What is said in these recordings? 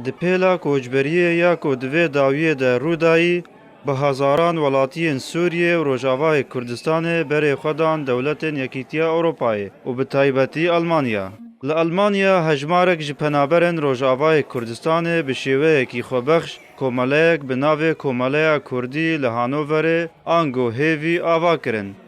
Di pêla koçberiyê ya ku di vê dawiyê de rû dayî, bi hezaran welatiyên Sûriyê û Rojavayê Kurdistanê berê xwe dan dewletên Yekîtiya Ewropayê û bi taybetî Elmanya. Li Elmanya hejmarek ji penaberên Rojavayê Kurdistanê bi şêweyekî xwebexş komeleyek bi navê Komeleya Kurdî li Hanoverê, ango hêvî, ava kirin.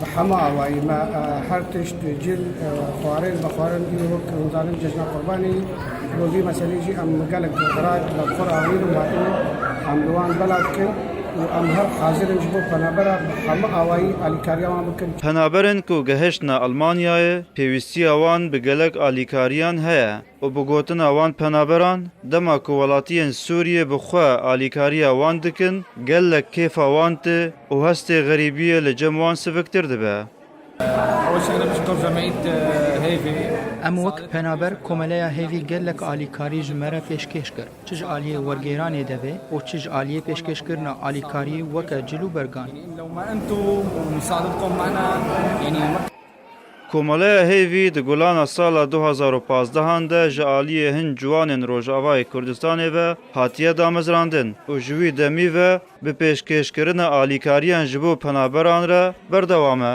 Bi hema awayî me her tişt cil xwarin vexwarin îro wek hûn zanin cejna qurbanî bo vî meselê jî em gelek xerat li xwe re anîn û hatine em li wan belav dikin û em her hazir in ji bo penabera bi hema awayî alîkariya wan bikin. Penaberên ku gehiştine Elmanyayê pêwîstiya wan bi gelek alîkariyan heye. û bi gotina wan penaberan dema ku welatiyên Sûriyê bi xwe alîkariya wan dikin gelek kêfa wan tê û hestê xerîbiyê li cem wan siviktir dibe. Em wek penaber komeleya hêvî gelek alîkarî ji me re pêşkêş kir. Çi ji aliyê wergêranê de be û çi ji aliyê pêşkêşkirina alîkariyê weke cil û bergan. Komeleya Hêvî di gulana sala du hezar û pazdehan de ji aliyê hin ciwanên Rojavayê Kurdistanê ve hatiye damezrandin û ji wî demî ve bi pêşkêşkirina alîkariyan ji bo penaberan re berdewam e.